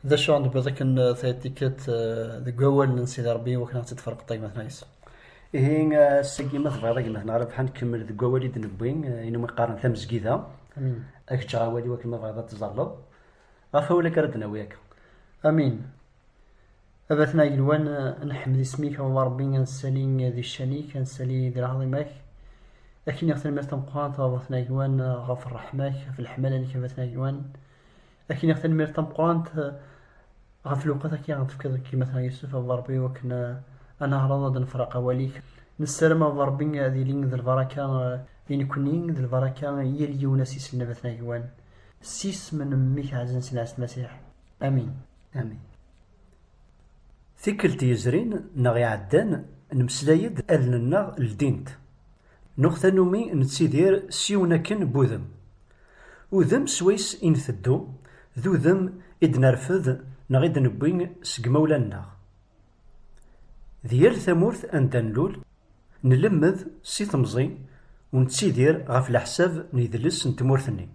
D acu ara d-tewwiḍ akken taytikiṭ deg wawalen n Sidi Ṛebbi iwakken ad tt-id-tferqeḍ a gma-tneɣ Ɛisa? Ihi ass-agi ma tebɣiḍ a gma-tneɣ Ṛebḥa ad nkemmel deg wawal i d-newwi, ayen umi qqaren tamezgida, ad k-ǧǧeɣ awal iwakken ma tebɣiḍ ad teẓẓalleḍ. Ɣef wawal akka ara d-nawi akka. Amin. A Bat n Agelwan, ad nḥemmed isem-ik a Baba Ṛebbi, ad nessali di ccan-ik, ad nessali di lɛaḍima-k. Ad k-iniɣ tanemmirt tameqqrant a Baba n Agelwan ɣef ṛṛeḥma-k, ɣef leḥmala-nnek a Bat n Agelwan. Akin iɣ tanmirt tameqqrant ɣef lewqat akka ɣ tefkiḍ deg yimatna Yusef a Ṛebbi wakken ad neɛreḍ ad nefr aqawal-ik. Nessaram a Ṛebbi ad ilin d lbaraka i nekkni d lbaraka i yal yiwen ass isellen abatna agwan. S isem n mmi-k ɛazen s lɛes n Masiḥ. Amin. Amin. Tikkelt yezrin neɣ iɛeddan nemmeslay-d allen-nneɣ ldint. Nuɣ tanumi nettidir s yiwen akken n wudem. Udem swayes i nteddu, d udem i d-nerfed neɣ i d-newwi seg yimawlan-nneɣ. Di yal tamurt anda nlul, nlemmed si temẓi u nettidir ɣef leḥsab n yedles n tmurt-nni.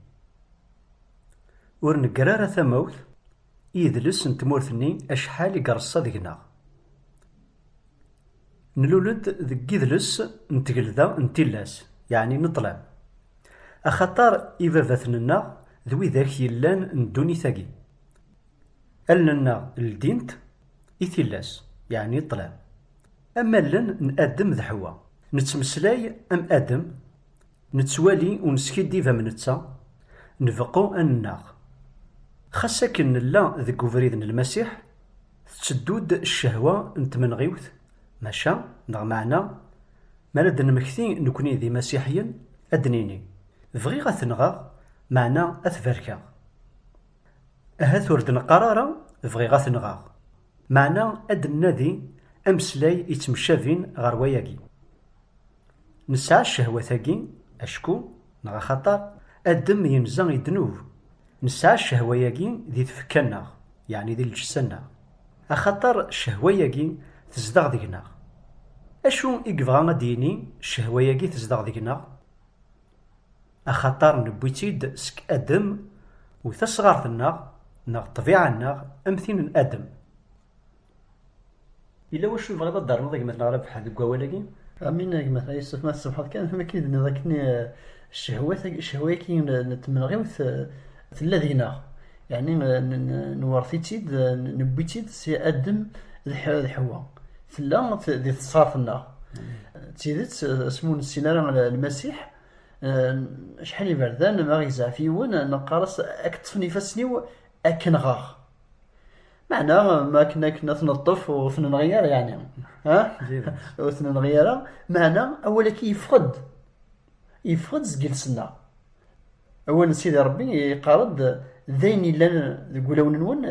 Ur negger ara tamawt i yedles n tmurt-nni acḥal i ireṣṣa deg-neɣ. Nlul-d deg yidles n tgelda n tillas, yeɛni n ṭṭlam, axaṭer ibabaten-nneɣ d widak yellan n ddunit-agi. Allen-nneɣ ldint i tillas, yeɛni i ṭṭlam, am allen n Adem d Ḥewwa. Nettmeslay am Adem, nettwali u neskiddib am netta, nbeqqu ad nennaɣ. Xas akken nella deg ubrid n Lmasiḥ, Tetteddu-d ccehwa n tmenɣiwt, maca, neɣ meɛna, mi ara d-nemmekti nekkni d imasiḥiyen, ad d-nini, Bɣiɣ ad t-nɣeɣ, meɛna ad t-barkeɣ. Ahat ur d-neqqar ara Bɣiɣ ad t-nɣeɣ, meɛna ad d-nnadi ameslay yettmecabin ɣer wayagi. Nesɛa ccehwat-agi acku neɣ axaṭer Adem yenza i ddnub. Nesɛa ccehwa-yagi di tfekka-nneɣ, yeɛni di lǧessa-nneɣ, axaṭer ccehwa-yagi tezdeɣ deg-neɣ. Acu i yebɣa ad d-yini ccehwa-yagi tezdeɣ deg-neɣ? Axaṭer newwi-tt-id seg Adem u tasɣart-nneɣ neɣ ṭṭbiɛa-nneɣ am tin n Adem. Yella wacu tebɣiḍ ad d-ternuḍ a gma Tneɣra Beḥḥa deg wawal-agi? Amin a gma Yusef, ma tessebḥeḍ kan amek i d-nniḍ akken ccehwa-agi n tmenɣiwt tella deg-neɣ, yeɛni nwṛet-itt-id, newwi-tt-id si Adem d Ḥewwa, tella di tesɣaṛt-nneɣ. D tidet, asmi ur nessin ara Lmasiḥ, acḥal n iberdan, ma ɣ-izɛef yiwen, neqqar-as, a k-ṭṭfen ifassen-iw, a k-nɣeɣ. Meɛna ma akken akken ad ten-neṭṭef ur ten-nɣi ara yeɛni ha ur ten-nɣi ara meɛna awal-agi yeffeɣ-d yeffeɣ-d seg iles-nneɣ awal n Sidi Ṛebbi yeqqar-d d ayen yellan deg wulawen-nwen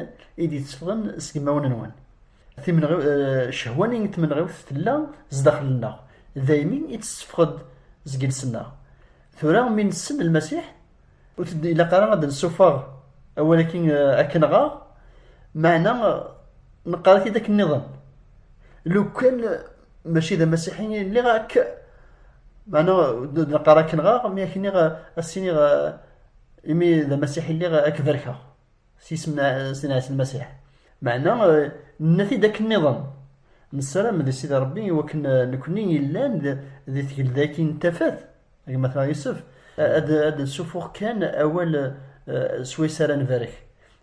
i d-yetteffɣen seg imawen-nwen timenɣi eh, cehwa-nni n tmenɣiwt tella zdaxel-nneɣ daymi i d-tetteffeɣ-d seg iles-nneɣ tura mi nessen Lmasiḥ Ur t-id-ilaq ara ad d-nessuffeɣ awal-agi akken-nɣaɣ, meɛna neqqar-it-id akken-nniḍen. Lukan mačči d amasiḥi i lliɣ akk, meɛna ur d-neqqar akken-nɣaɣ, mi ak-nniɣ ad s-iniɣ imi d amasiḥi i lliɣ ad k-barkeɣ s yisem n Sidi Ɛisa Lmasiḥ. Meɛna nenna-t-id akken-nniḍen. Nessaram di Sidi Ṛebbi i wakken nekkni yellan di tgelda-agi n tafat, Gma Tma Yusef, ad d-ssufuɣ kan awal s wayes ara nbarek.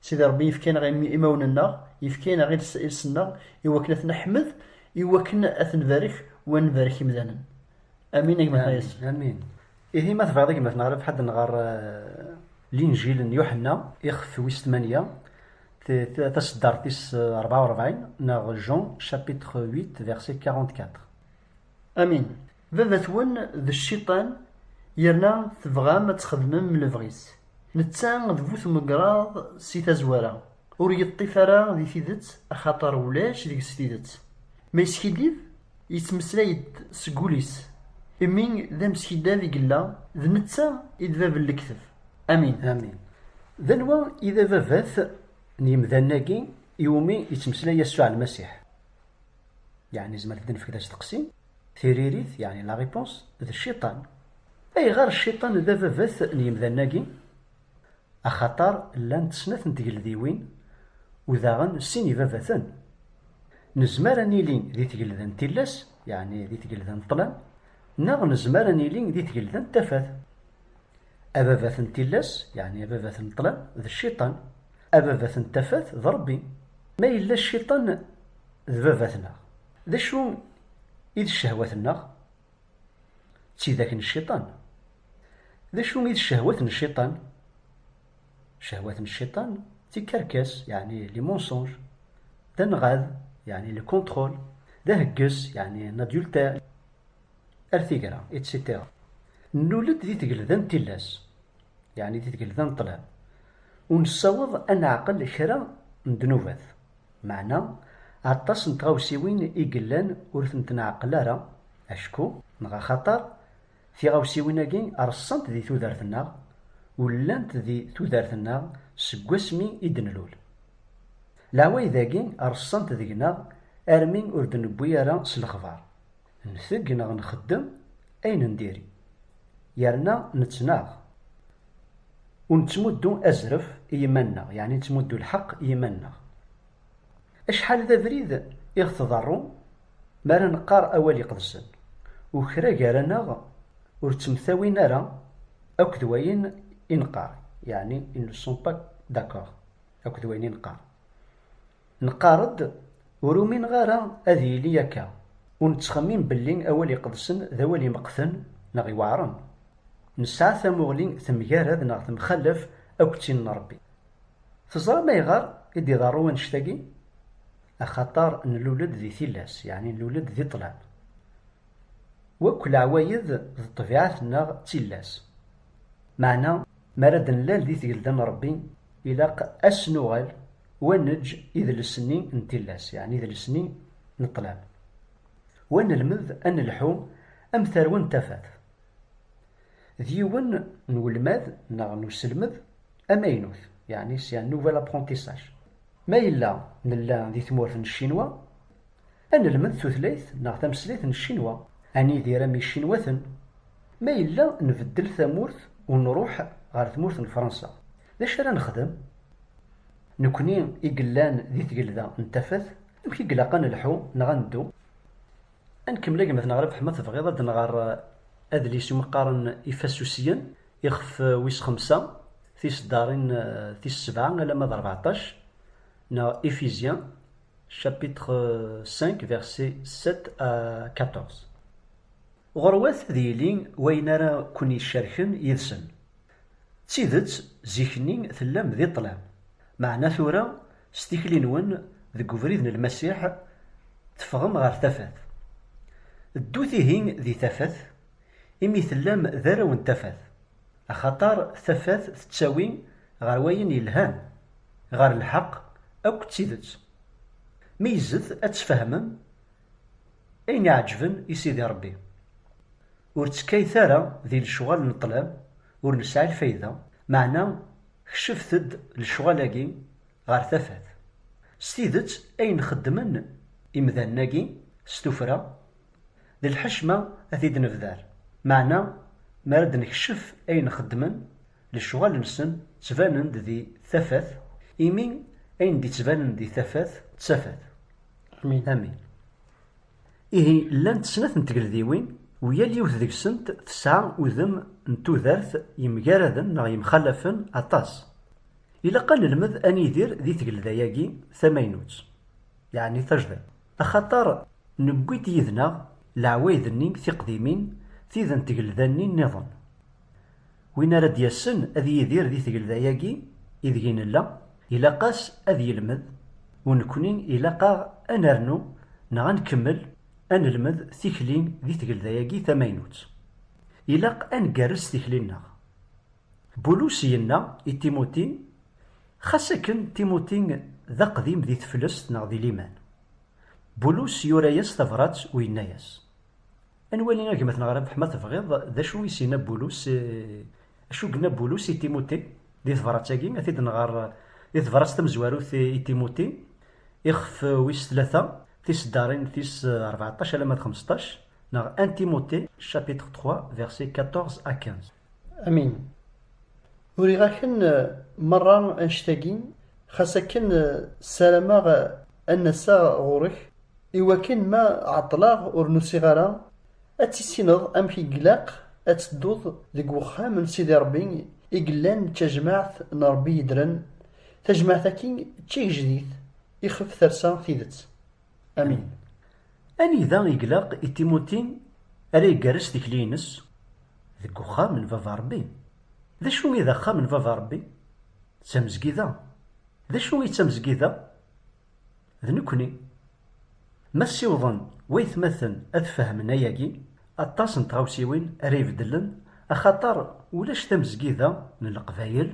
Sidi Ṛebbi yefka-aneɣ imawen-nneɣ, yefka-aneɣ iles-nneɣ i wakken ad t-neḥmed, i wakken ad t-nbarek u ad nbarek imdanen. Amin a gma Tma Yusef. Amin. Ihi ma tebɣiḍ a gma Tma Ṛebḥa ad d-nɣer Linǧil n Yuḥenna ixef wis tmanya taseddart tis ṛebɛa u ṛebɛin neɣ Jean chapitre huit verset quarante-quatre. Amin. Baba-twen d cciṭan yerna tebɣam ad txedmem lebɣi-s. Netta d bu tmegraḍ si tazwara, ur yeṭṭif ara di tidet axaṭer ulac deg-s tidet. Ma yeskiddib, yettmeslay-d seg ul-is, imi d ameskidab i yella, d netta i d bab n lekteb. Amin. Amin. D anwa i d ababat n yemdanen-agi i wumi yettmeslay Yasuɛ Lmasiḥ? yeɛni zemret ad d-nefk d asteqsi, tiririt, yeɛni la réponse, d cciṭan. Ayɣer cciṭan d ababat n yemdanen-agi? Axaṭer llant snat n tgeldiwin u daɣen sin ibabaten. Nezmer ad nili di tgelda n tillas, yeɛni di tgelda n ṭṭlam, neɣ nezmer ad nili di tgelda n tafat. Ababat n tillas, yeɛni ababat n ṭṭlam, d cciṭan. Ababat n tafat, d Ṛebbi. Ma yella cciṭan d baba-tneɣ, d acu i d ccehwat-nneɣ? D tidak n cciṭan. D acu i d ccehwat n cciṭan? Ccehwat n cciṭan d tikerkas, yeɛni les mensonges, d anɣad, yeɛni le contrôle, d ahegges, yeɛni un adultère. Ar tigra, etc. Nlul-d di tgelda n tillas, yeɛni di tgelda n ṭṭlam, ur nessaweḍ ad neɛqel kra n ddnubat, meɛna aṭas n tɣawsiwin i yellan ur tent-nɛeqqel ara, acku neɣ axaṭer tiɣawsiwin-agi reṣṣant di tudert-nneɣ, ur llant di tudert-nneɣ seg wasmi i d-nlul. Leɛwayed-agi reṣṣant deg-neɣ armi ur d-newwi ara s lexbar. Nteg neɣ nxeddem ayen n diri, yerna nettnaɣ. Ur nettmuddu azref i yiman-nneɣ, yeɛni nettmuddu lḥeqq i yiman-nneɣ. Acḥal d abrid i ɣ-tḍerru mi ara neqqar awal iqedsen, u kra gar-aneɣ ur ttemtawin ara akk d wayen i neqqar, yeɛni ils ne sont pas d'accord akk d wayen i neqqar. Nqarr-d, ur umineɣ ara ad yili akka, ur nettxemmim belli awal iqedsen d awal imeqten neɣ iweɛren. Nesɛa tamuɣli temgarad neɣ temxalaf akk d tin n Rebbi. Teẓram ayɣer i d-iḍerru wannect-agi? Axaṭer nlul-d di tillas, yeɛni nlul-d di ṭṭlam. Wakk leɛwayed d ṭṭbiɛat-nneɣ d tillas. Meɛna, mi ara d-nlal di tgelda n Rebbi, ilaq ad s-nuɣal, wa neǧǧ idles-nni n tillas, yeɛni idles-nni n ṭṭlam, wa nelmed ad nelḥu am tarwa n tafat, d yiwen n welmad neɣ n uselmed amaynut, yeɛni c'est un nouvel apprentissage. Ma yella nella di tmurt n Ccinwa, Ad nelmed tutlayt neɣ tameslayt n Ccinwa, ad nidir am Yicinwaten. Ma yella nbeddel tamurt u nruḥ ɣer tmurt n Fransa, d acu ara nexdem? Nekkni i yellan di Tgelda n Tafat, amek i ilaq ad nelḥu neɣ ad neddu? Ad nkemmel agmat neɣ Rabeḥ ma tebɣiḍ ad nɣer adlis umi qqaren Ifasusiyen, ixef wis xemsa, tiseddarin tis sebɛa alamma d rbeɛṭac, neɣ Ifizyen, chapitre 5, versets 7 à 14. Ɣurwat ad yili wayen ara ken-yeccerken yid-sen. D tidet, zik-nni tellam di ṭṭlam, meɛna tura, s tikli-nwen deg ubrid n Lmasiḥ, teffɣem ɣer tafat. Ddut ihi di tafat, Imi tellam d arraw n tafat. Axaṭer tafat tettawi ɣer wayen yelhan, ɣer lḥeqq akked tidet. Meyyzet ad tfehmem ayen iɛeǧǧben i Sidi Ṛebbi. Ur ttekkayet ara di lecɣal n ṭṭlam ur nesɛi lfayda, meɛna kecfet-d lecɣal-agi ɣer tafat. S tidet ayen xeddmen imdanen-agi s tuffra D lḥecma ad t-id-nebder, meɛna mi ara d-nekcef ayen xeddmen, lecɣal-nsen ttbanen-d di tafat, imi ayen d-ittbanen di tafat d tafat. Amin. Ihi llant snat n tgeldiwin u yal yiwet deg-sent tesɛa udem n tudert yemgaraden neɣ yemxalafen aṭas. Ilaq ad nelmed ad nidir di tgelda-agi tamaynut, yeɛni tajdiṭ. Axaṭer newwi-d yid-neɣ leɛwayed-nni tiqdimin, tid n tgelda-nni nniḍen. Win ara d-yassen ad yidir di tgelda-agi ideg i nella, ilaq-as ad yelmed, u nekkni ilaq-aɣ ad nernu neɣ ad nkemmel ad nelmed tikli di tgelda-agi tamaynut. Ilaq ad ngerrez tikli-nneɣ. Bulus yenna i Timuti, Xas akken, Timuti d aqdim di teflest neɣ di liman. Bulus yura-yas tabrat u yenna-yas. Ad nwali a gma-tneɣ Rabeḥ ma tebɣiḍ d acu i s-yenna Bulus i, acu yenna Bulus i Timuti di tebrat-agi, a t-id-nɣer di tebrat tamezwarut i Timuti, ixef wis tlata, tiseddarin tis rbeɛṭac alamma d xmesṭac, neɣ 1 Timuti, chapitre trois, versets quatorze à quinze. Amin. Uriɣ-aken merra annect-agi, xas akken ssarameɣ ad n-aseɣ ɣur-k, i wakken ma ɛeṭṭleɣ ur n-usiɣ ara, ad tissineḍ amek i glaq ad tedduḍ deg wexxam n Sidi Rebbi i yellan d tajmaɛt n Rebbi yeddren, tajmaɛt-agi d tigejdit ixef tersa tidet. Amin. Anida i glaq i Timuti ara igerrez tikli-ines? Deg uxxam n Baba Rebbi. D acu i d axxam n Baba Rebbi? D tamezgida. D acu i d tamezgida? D nekkni. Ma ssiwḍen waytmaten ad fehmen ayagi, aṭas n tɣawsiwin ara ibeddlen axaṭer ulac tamezgida n Leqbayel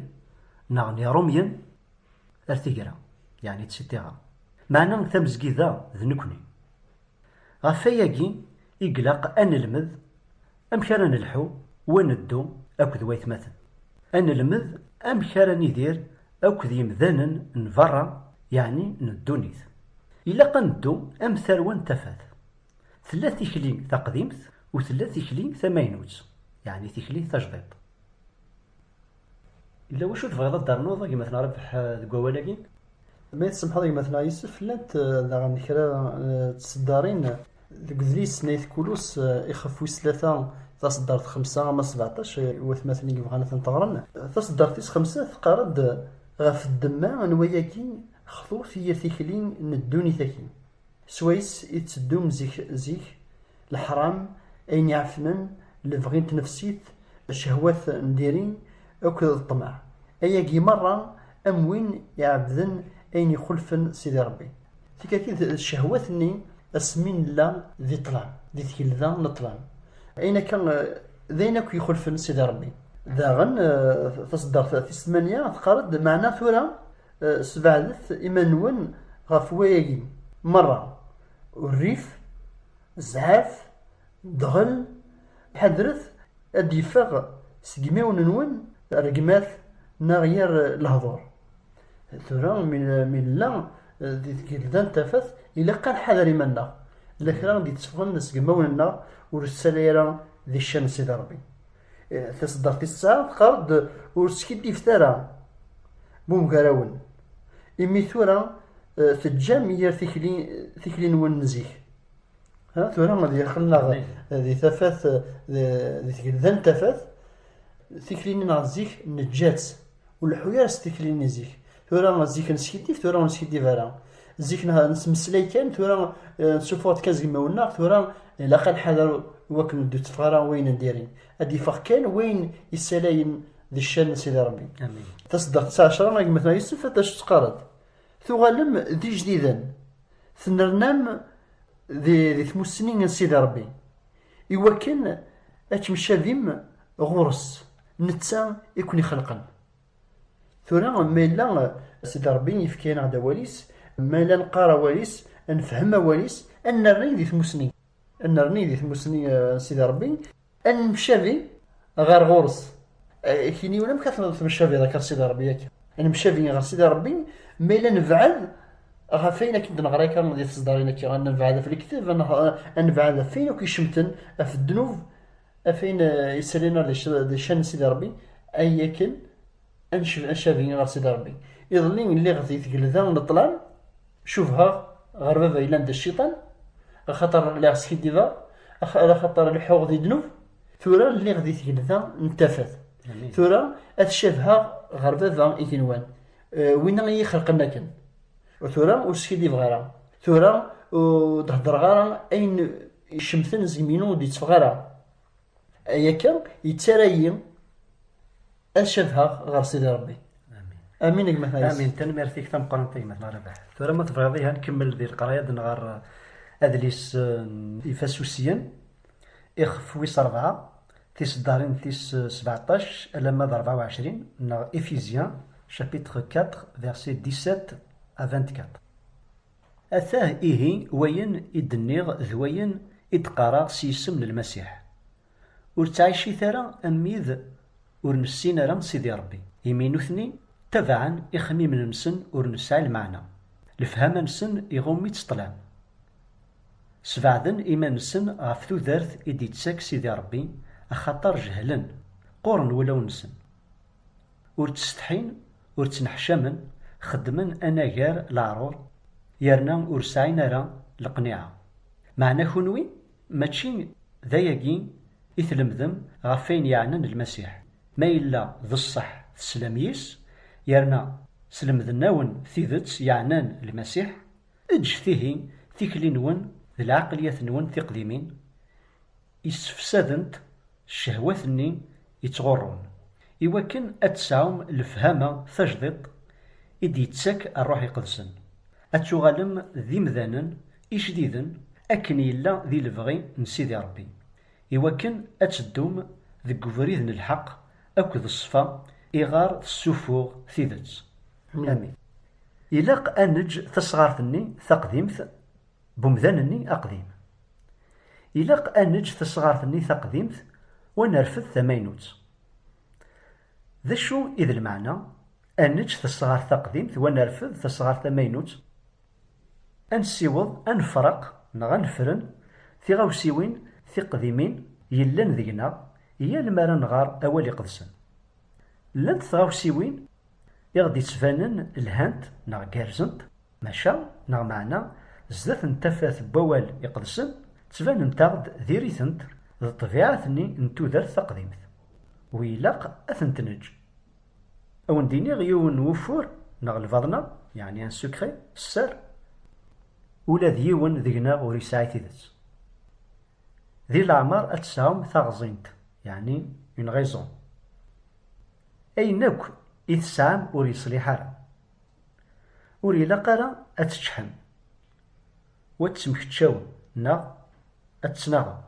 neɣ n Irumyen Ar tigra, yeɛni ţ-ţiɣra. Meɛna tamezgida d nekni. Ɣef wayagi i glaq a nelmed amek ara nelḥu u a neddu akked waytmaten. A nelmed amek ara nidir akked yemdanen n berra yeɛni n ddunit. Ilaq a neddu am tarwa n tafat. Tella tikli taqdimt u tella tikli tamaynut, yeɛni tikli tajdiṭ. Yella wacu tebɣiḍ ad d-ternuḍ a gma-tneɣ Rabeḥ deg wawal-agi? Ma i tsemḥeḍ a gma-tneɣ Yusef, llant daɣen kra n tseddarin deg udlis n Ayt Kulus ixef wis tlata taseddart xemsa ama sbeɛṭac i watmaten i yebɣan ad tent-ɣren. Taseddart-is xemsa teqqar-d ɣef ddemma n wayagi xtut i yir tikli n ddunit-agi. S wayes i tteddun zik zik, leḥram, ayen iɛefnen, lebɣi n tnefsit, cehwat n diri akk d ṭṭmeɛ, ayagi merra am win iɛebbden ayen ixulfen Sidi Rebbi. Tikati d cehwat-nni asmi nella di ṭṭlam, di tgelda n ṭṭlam, ayen akka d ayen akk ixulfen Sidi Rebbi. Daɣen taseddart tis tmanya teqqar-d, Meɛna tura Eh, sbeɛdet iman-nwen ɣef wayagi meṛṛa, urrif, zzɛaf, ddɣel, ḥadret ad d-yeffeɣ seg imawen-nwen rregmat neɣ yir lehduṛ. Eh, tura mi nella eh, di tgelda n tafat, ilaq ad nḥader iman-nneɣ, yella kra i d-yetteffɣen seg imawen-nneɣ ur s-ttali ara di ccan n Sidi Ṛebbi. Taseddart-is tesɛa teqqar-d ur skiddibet ara bumgarawen imi tura eh, teǧǧam yir tikli tikli-nwen n zik ha tura ad yaqel-neɣ di tafat eh, di tgelda n tafat tikli-nneɣ n zik neǧǧa-tt Ur leḥḥu ara s tikli n zik. Tura zik neskiddib, tura ur neskiddib ara. Zik nettmeslay kan, tura eh, nsuffuɣ-d kan zegmawen-nneɣ, tura ilaq ad nḥader i wakken ur d-itteffeɣ ara wayen n diri. Ad d-iffeɣ kan wayen yessalayen d ccan n Sidi Ṛebbi. Taseddaɣt tesɛa ɛecra, a gma-tneɣ Yusef, ad as-teqqareḍ. Tuɣalem d ijdiden, tenrnam di, di tmussni n Sidi Ṛebbi, iwakken ad kem-cabim ɣur-s. Netta i ken-ixelqen. Tura ma yella Sidi Ṛebbi yefka-aneɣ-d awal-is, ma la neqqar awal-is, ad nefhem awal-is, ad nerni di tmussni, ad nerni di tmussni n Sidi Ṛebbi, ad nemcabi ɣer ɣur-s. Akiniwen amek ara temcabiḍ akka ɣer Sidi Ṛebbi akka? Ad nemcabi ɣer Sidi Ṛebbi ma yella nebɛed ɣef ayen akken d-neɣra akka di tesdarin akka, ad nebɛed ɣef lekdeb, ad nebɛed ɣef wayen akk icemten, ɣef ddnub, Af ayen yettalin ar di ccan n Sidi Ṛebbi, ay akken ad ncabi ɣer Sidi Ṛebbi. Iḍelli lliɣ di tgelda n ṭṭlam, cubheɣ ɣer baba yellan d cciṭan, axaṭer lliɣ skiddibeɣ, axaṭer leḥḥuɣ di ddnub. Tura lliɣ di tgelda n tafat. Tura ad cabheɣ ɣer baba igenwan, winna i yi-xelqen akken. Tura ur skiddibeɣ ara. Tura ur d-heddreɣ ara ayen. Icemten zgem-inu ur d-itteffeɣ ara. Ay akka, yettara-yi ad cabheɣ ɣer Sidi Rebbi. Amin a gma-tneɣ. Amin, tanemmirt-ik tameqqrant a gma-tneɣ Rabaḥ. Tura ma tebɣiḍ ihi ad nkemmel di leqraya ad nɣer uh, adlis n ifasusiyen, ixef wis rebɛa, tiseddarin tis uh, sebeɛṭac alamma d rebɛa u ɛecrin, neɣ Ephésiens chapitre 4 versets 17 à 24. Atah ihi wayen i d-nniɣ d wayen i d-qqareɣ s yisem n Lmasiḥ, Ur ttɛicit ara am wid ur nessin ara Sidi Ṛebbi, imi nutni ttabaɛen ixemmimen-nsen ur nesɛi lmeɛna, lefhama-nsen iɣumm-itt ṭṭlam. Sbeɛden iman-nsen ɣef tudert i d-ittak Sidi Ṛebbi, axaṭer jehlen, qquren wulawen-nsen. Ur ttsetḥin, ur ttneḥcamen, xeddmen anagar leɛrur yerna ur sɛin ara leqniɛa. Meɛna kunwi mačči d ayagi i tlemdem ɣef wayen yeɛnan Lmasiḥ, ma yella d ṣṣeḥ teslam yis, yerna slemden-awen tidet yeɛnan Lmasiḥ, eǧǧet ihi tikli-nwen d lɛeqliyat-nwen tiqdimin, i ssefsadent ccehwat-nni yettɣurrun, i wakken ad tesɛum lefhama tajdiṭ i d-yettak Rruḥ Iqedsen, ad tuɣalem d imdanen ijdiden akken yella di lebɣi n Sidi Ṛebbi, i wakken ad teddum deg ubrid n lḥeqq akked ṣṣfa iɣer tessuffuɣ tidet. Amin. Ilaq ad neǧǧ tasɣart-nni taqdimt n umdan-nni aqdim. Ilaq ad neǧǧ tasɣart-nni taqdimt u ad nerfed tamaynut. D acu i d lmeɛna ad neǧǧ tasɣart taqdimt u ad nerfed tasɣart tamaynut? Ad nessiweḍ ad nefreq neɣ ad nefren tiɣawsiwin tiqdimin yellan deg-neɣ yal mi ara nɣer awal iqedsen. Llant tɣawsiwin I ɣ-d-yettbanen lhant neɣ gerrzent, maca neɣ meɛna, zdat n tafat n wawal iqedsen, ttbanent-aɣ-d diri-tent d ṭṭbiɛat-nni n tudert taqdimt, wi ilaq ad tent-neǧǧ. A wen-d-iniɣ yiwen n wufur neɣ lbaḍna, yeɛni un secret, sser, ula d yiwen deg-neɣ ur yesɛi tidet. Di leɛmer ad tesɛum taɣẓint, yeɛni une raison. Ayen akk i tesɛam ur yeṣliḥ ara. Ur ilaq ara ad teččḥem, u ad temkeccawem neɣ ad ttnaɣem.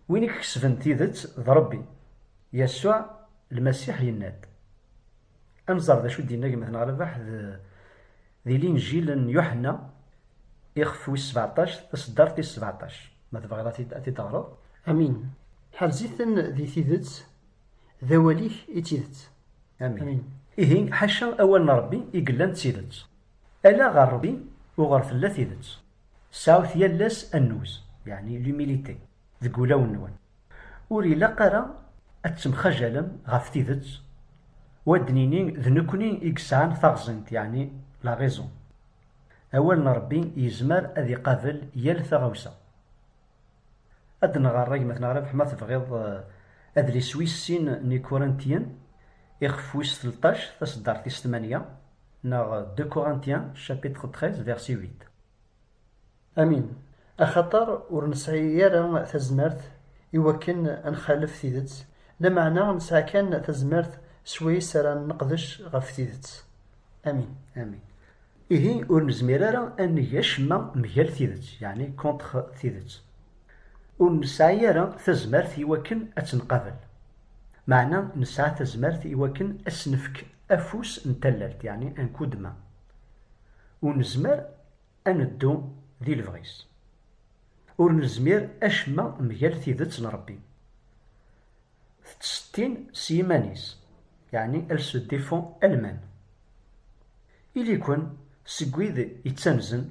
Win i ikesben tidet d Ṛebbi. Yasuɛ Lmasiḥ yenna-d. Ad nẓer d acu i d-yenna gma-tneɣ Rabaḥ di Linǧil n Yuḥenna, ixef wis sbeɛṭac, taṣeddart tis sbeɛṭac, ma tebɣiḍ ad t-id-teɣreḍ. Amin. Ḥerz-iten di tidet, D awal-ik i d tidet. Amin. Ihi, ḥaca awal n Ṛebbi i yellan d tidet. Ala ɣer Ṛebbi uɣer tella tidet. Sɛut yal ass annuz, yeɛni l'humilité, deg wulawen-nwen. Ur ilaq ara ad temxajalem ɣef tidet u ad d-nini d nekkni i yesɛan taɣẓint, yeɛni la raison. Awal n Ṛebbi yezmer ad iqabel yal taɣawsa. Ad nɣer agmat neɣ Rabeḥ ma tebɣiḍ adlis wis sin n Ikurintyen ixef wis telṭac taseddart tis tmanya neɣ De Corinthiens chapitre treize verset huit. Amin. Axaṭer ur nesɛi ara tazmert i wakken ad nxalef tidet, lameɛna nesɛa kan tazmert s wayes ara neqdec ɣef tidet. Amin. Amin. Ihi ur nezmir ara ad neg acemma mgal tidet, yeɛni contre tidet. Ur nesɛi ara tazmert i wakken ad tt-nqabel. Meɛna nesɛa tazmert i wakken ad s-nefk afus n tallalt, yeɛni un coup de main. Ur nezmer ad neddu di lebɣi-s. Ur nezmir acemma mgal tidet n Rebbi. Tettsettin s yiman-is, yeɛni elle se défend elle-même. Ili-ken seg wid yettanzen,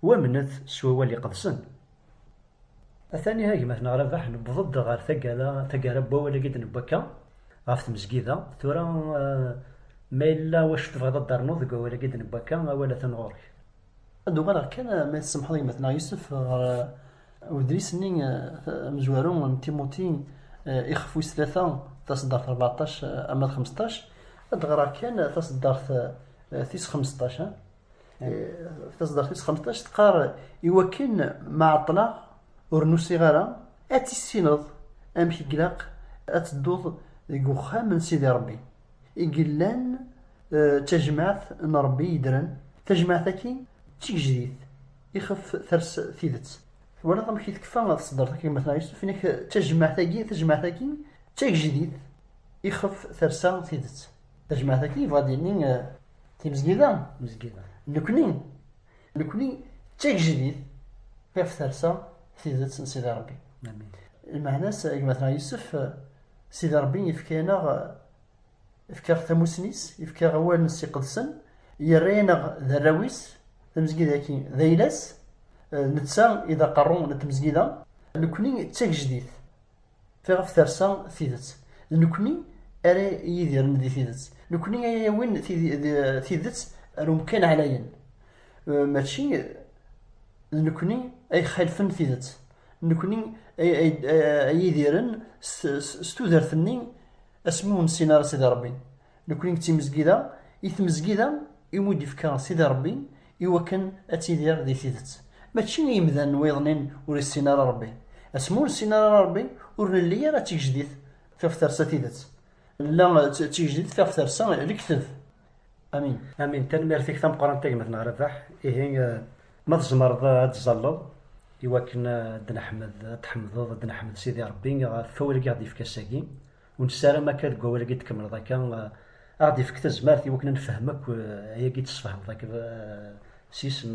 wamnet s wawal iqedsen. Atan iha gma-tneɣ Rabaḥ, newweḍ-d ɣer taggara, taggara n wawal-agi i d-newwi akka ɣef tmezgida. Tura ma yella wacu tebɣiḍ ad d-ternuḍ deg wawal-agi i d-newwi akka, awal atan ɣur-k. Ad d-uɣaleɣ kan, ma i tsemḥeḍ a gma-tneɣ Yusef, ɣer udlis-nni amezwaru n Timuti ixef wis tlata, taseddart rbeɛṭac arma d xmesṭac, ad d-ɣreɣ kan taseddart tis xmesṭac. Taseddart tis xmesṭac teqqar, Iwakken ma ɛeṭṭleɣ ur nusiɣ ara, ad tissineḍ amek i ilaq ad tedduḍ deg uxxam n Sidi Ṛebbi. i yellan d tajmaɛt n Ṛebbi yeddren, tajmaɛt-agi d tigejdit ixef ters tidet. Twalaḍ amek i tekfa tseddart agi Mass Ɛisuf, ini-ak tajmaɛt-agi, tajmaɛt-agi d tagejdit ixef tersa tidet. Tajmaɛt-agi yebɣa ad d-yini timezgida, nekni, nekni d tagejdit ixef tersa tidet n Sidi Ṛebbi. Lmeɛna-s agi Mass Ɛisuf, Sidi Ṛebbi ifka-yaneɣ, ifka-ɣ tamusni-s, ifka-ɣ awal-ines iqedsen, yerra-yaneɣ d arraw-is, tamezgida-agi d ayla-s, netta i d aqerru n tmezgida, nekni d tagejdit tiɣef tersa tidet, d nekni ara yidiren di tidet, nekni ara yawin tidet ar umkan ɛlayen, mačči d nekni ay ixalfen tidet. Nekkni ay idiren s tudert-nni asmi ur nessin ara Sidi Ṛebbi. Nekkni d timezgida, i tmezgida i mu d-ifka Sidi Ṛebbi i wakken ad tidir di tidet. Mačči i yemdanen wiḍen-in ur issin ara Ṛebbi. Asmi ur nessin ara Ṛebbi, ur nelli ara d tigejdit fiɣef tersa tidet. Nella d tigejdit fiɣef tersa lekteb. Amin. Amin. Tanemmirt-ik tameqqrant a gma Tneɣ Rabaḥ. Ihi ma tzemreḍ ad tẓalleḍ iwakken ad neḥmed ad tḥemdeḍ ad neḥmed Sidi Rebbi ɣef wawal i aɣ-d-yefka ass-agi. Ur nessaram akka deg wawal agi d-tkemmleḍ akka aɣ-d-ifek tazmert iwakken ad nefhem akk ayagi d-tesfehmeḍ akk s yisem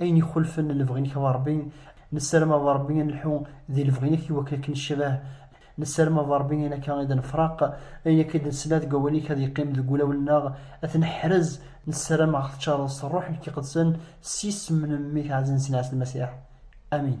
Ayen ixulfen lebɣi-nnek a Ṛebbi, nessarem a Ṛebbi ad nelḥu di lebɣi-nnek iwakken ad k-necbah. Nessarem a Ṛebbi ayen akka i d-nefṛeq, ayen akka i d-nesla deg wawal-nnek ad yeqqim deg wulawen-nneɣ, ad t-neḥrez. Nessarem ad ɣ-teččareḍ s Ṛṛuḥ-nnek Iqedsen, s yisem n Mmi-k Ɛziz-nsen Ɛisa Lmasiḥ. Amin.